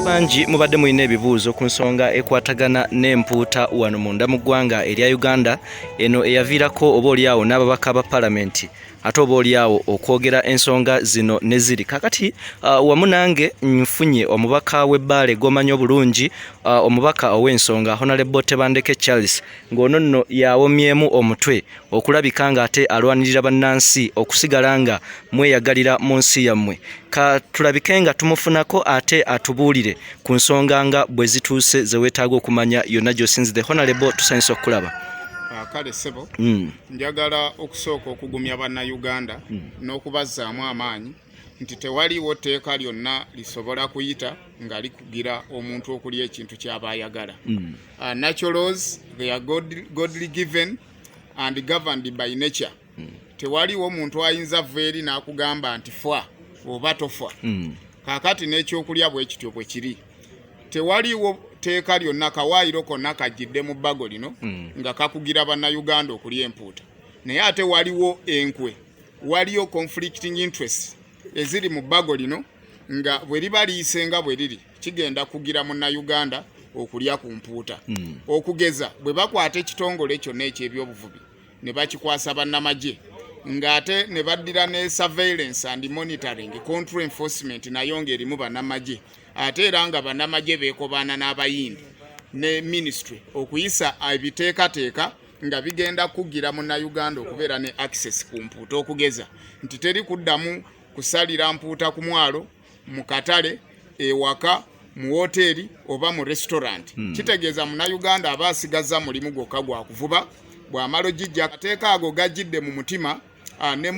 bangi mubadde mulina ebibuuzo ku nsonga ekwatagana n'empuuta wano munda mu ggwanga erya uganda eno eyaviirako oba olyawo n'ababaka ba palamenti ate oba olyawo okwogera ensonga zino ne ziri kakati uh, wamu nange nfunye omubaka w'ebbaale gw'omanyi obulungi uh, omubaka ow'ensonga honalebo tebandeke charles ng'ono nno yawomyemu omutwe okulabika ng'ate alwanirira bannansi okusigala nga mweyagalira mu nsi yammwe ka tulabike nga tumufunako ate atubuulire ku nsonga nga bwe zituuse ze weetaaga okumanya yonna gy'osinzidde honalebo tusanyusa okukulaba ah, kale sebo hmm. njagala okusooka okugumya bannayuganda hmm. n'okubazzaamu amaanyi nti tewaliwo tteeka lyonna lisobola kuyita nga likugira omuntu okulya ekintu kyaba ayagala hmm. ah, naturals they are godly given mm. and governed by nature mm. tewaliwo muntu ayinza vva eri n'akugamba nti fa oba tofa mm. kakati n'ekyokulya bwe kityo bwe kiri tewaliwo tteeka lyonna kawaayiro konna kajjidde mu bbago lino mm. nga kakugira bannayuganda okulya empuuta naye ate waliwo enkwe waliyo conflicting interest eziri mu bbago lino nga bwe liba liyisenga bwe liri kigenda kugira munnayuganda okulya ku mpuuta hmm. okugeza bwe bakwata ekitongole kyonna eky'ebyobuvubi ne bakikwasa bannamagye ng'ate ne baddira ne surveillance and monitoring control enforcement nayo ng'erimu bannamagye ate era nga bannamagye beekobaana n'abayindi ne ministry okuyisa ebiteekateeka nga bigenda kugira munnayuganda okubeera ne access ku mpuuta okugeza nti teri kuddamu kusalira mpuuta ku mwalo mu katale ewaka mu woteeri oba mu restaurant hmm. kitegeeza munauganda aba asigazza mulimu gwokka gwa kuvuba bw'amala ogijja akateeka ago gajjidde mu mutima ah, ne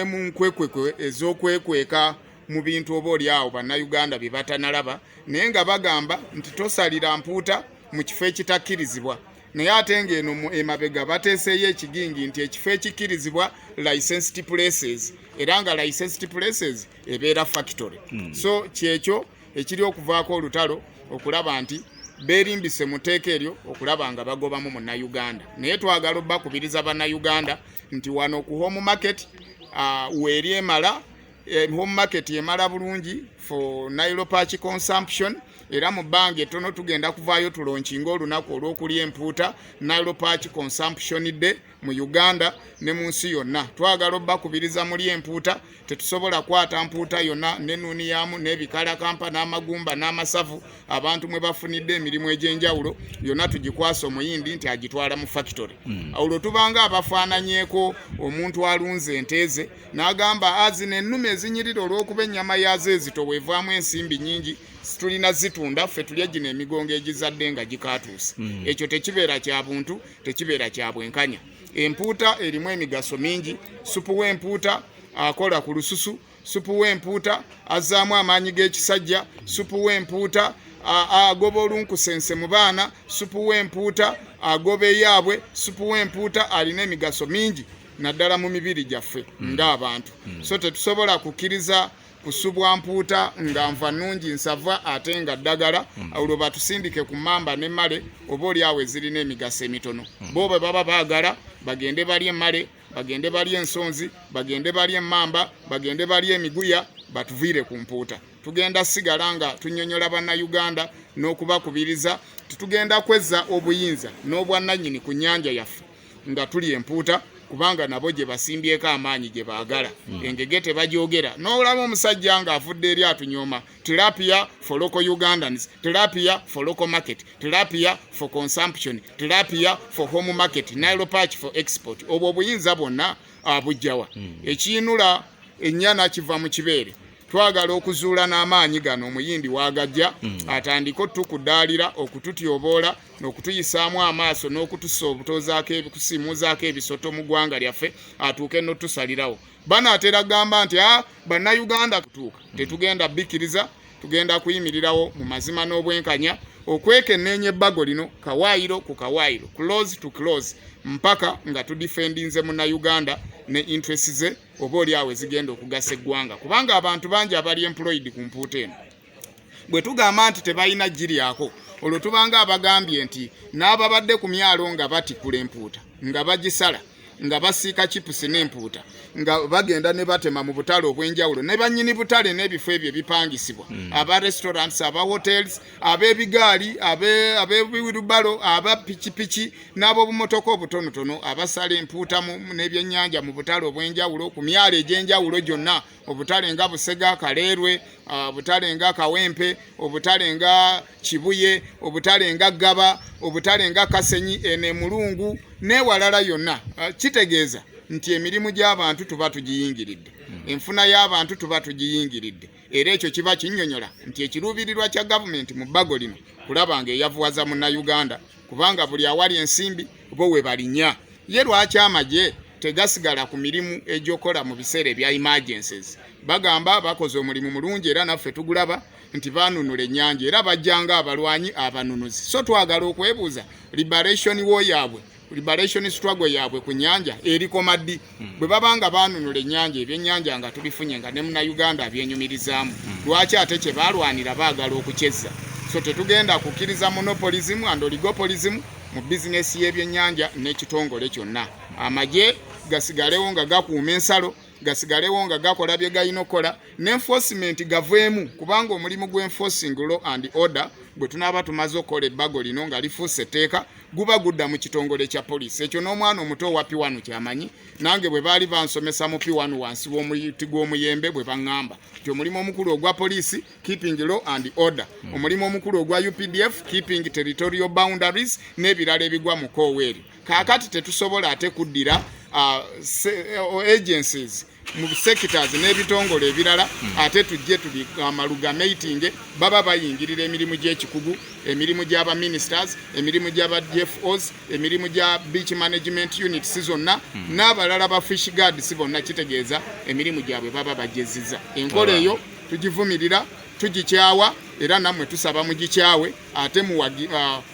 mu nkwekwekwe ez'okwekweka mu bintu oba oli awo bannayuganda bye batanalaba naye nga bagamba nti tosalira mpuuta mu kifo ekitakkirizibwa naye ate ng'eno mu emabega bateeseeyo ekigingi nti ekifo ekikkirizibwa licensed places era nga licensed places ebeera factory hmm. so kyekyo ekiri okuvaako olutalo okulaba nti berimbise mu tteeka eryo okulaba nga bagobamu munnayuganda naye twagala obakubiriza bannayuganda nti wano ku home market uh, weeri emala eh, home market emala bulungi for nilopach consumption era mu bbanga ettono tugenda kuvaayo tulonkinga olunaku olw'okulya empuuta nalopach consumption day mu Uganda ne mu nsi yonna twagala obbakubiriza muli empuuta tetusobola kwata mpuuta yonna nenuniyamu n'ebikalakampa n'amagumba n'amasavu abantu mwe bafunidde emirimu egy'enjawulo yonna tugikwasa omuyindi nti agitwala mu fakitore hmm. olwo tubanga abafaananyeko omuntu alunze enteeze n'agamba azina ah, ennume ezinyirira olw'okuba ennyama yaazo ezito weevaamu ensimbi nyingi tulina zitunda ffe tulya gino emigongo egizadde nga gikatuuse hmm. ekyo tekibeera kya buntu tekibeera kya bwenkanya. Empuuta erimu emigaso mingi. Supu w'empuuta akola ku lususu. Supu w'empuuta azzaamu amaanyi g'ekisajja. Supu w'empuuta agoba olunkusense mu baana. Supu w'empuuta agoba eyaabwe. Supu w'empuuta alina emigaso mingi naddala mu mibiri gyaffe hmm. ng'abantu. Hmm. So tetusobola kukkiriza kusubwa mpuuta nga nva nungi nsava ate nga ddagala mm. olwo batusindike ku mamba ne male oba oli awo ezirina emigaso emitono mm. bo bwe baba baagala bagende bali emale bagende bali ensonzi bagende bali emamba bagende bali emiguya batuviire ku mpuuta tugenda sigala nga tunyonyola bannayuganda n'okubakubiriza tetugenda kwezza obuyinza n'obwannanyini ku nnyanja yaffe nga tuli empuuta kubanga nabo gye basimbyeko amaanyi gye baagala hmm. engege tebagyogera n'olaba omusajja ng'afudde eri atunyooma tilapia for local ugandans tilapia for local market tilapia for consumption tilapia for home market nilo patch for export obwo obuyinza bwonna abujjawa hmm. ekiyinula ennyana kiva mu kibeere twagala okuzuula n'amaanyi gano omuyindi wagajja hmm. atandike otukudaalira okututyoboola n'okutuyisaamu amaaso n'okutusa obutozaako ebikusimuuzaako ebisoto mu ggwanga lyaffe atuuke n'otusalirawo bano atera gamba nti a ah, bannayuganda kutuuka hmm. tetugenda bikkiriza tugenda kuyimirirawo mu mazima n'obwenkanya okwekenneenya ebbago lino kawaayiro ku kawaayiro close to close mpaka nga tudifendinze munnayuganda ne interesi ze oba oli awo ezigenda okugasa eggwanga kubanga abantu bangi abali employed ku mpuuta eno bwe tugamba nti tebalina giryako olwo tubanga abagambye nti n'ababadde ku myalo nga batikula empuuta nga bagisala nga basiika chipusi n'empuuta nga bagenda ne batema mu butale obw'enjawulo ne bannyini butale n'ebifo ebyo ebipangisibwa hmm. aba restaurants aba hotels abebigaali abebiwirubalo aba pikipiki n'ab'obumotoka obutonotono abasala empuuta n'ebyennyanja mu butale obw'enjawulo ku myalo egy'enjawulo gyonna obutale nga busega kaleerwe obutale nga kawempe obutale nga kibuye obutale nga ggaba obutale nga kasenyi eno emulungu n'ewalala yonna kitegeeza nti emirimu gy'abantu tuba tugiyingiridde hmm. enfuna y'abantu tuba tugiyingiridde era ekyo kiba kinyonyola nti ekiruubirirwa kya gavumenti mu bbago lino kulaba nga eyavuwaza munnayuganda kubanga buli awali ensimbi bo we balinya ye lwaki amagye tegasigala ku mirimu egyokola mu biseera ebya emergencies bagamba bakoze omulimu mulungi era naffe tugulaba nti banunula ennyanja era bajjanga abalwanyi abanunuzi so twagala okwebuuza liberation wo yaabwe liberation struggle yaabwe ku nyanja erikoma ddi hmm. bwe baba nga baanunula ennyanja ebyennyanja nga tubifunye nga ne munauganda abyenyumirizaamu hmm. lwaki ate kye baalwanira baagala okukyezza so tetugenda kukkiriza monopolism and oligopolism mu bizinesi y'ebyennyanja n'ekitongole kyonna amagye gasigalewo nga gakuuma ensalo gasigalewo nga gakola bye galina okukola ne enforcement gaveemu kubanga omulimu gwa enforcing law and order bwe tunaaba tumaze okukola ebbago lino nga lifuuse etteeka guba gudda mu kitongole kya poliisi ekyo n'omwana omuto owa piwanu kyamanyi nange bwe baali bansomesa mu piwanu wansi w'omuti gw'omuyembe bwe baŋŋamba nti omulimu omukulu ogwa poliisi keeping law and order omulimu omukulu ogwa updf keeping territorial boundaries n'ebirala ebigwa mu koowa eryo kaakati tetusobola ate kuddira uh, uh, agencies mu sectors n'ebitongole ebirala hmm. ate tujje tuli amalugameitinge baba bayingirira emirimu gy'ekikugu emirimu gy'aba ministers emirimu gy'aba dfos emirimu gya beach management units zonna hmm. n'abalala ba fish guards bonna kitegeeza emirimu gyabwe baba bajeziza enkola eyo tugivumirira tugikyawa era nammwe tusaba mugikyawe ate muwagi uh,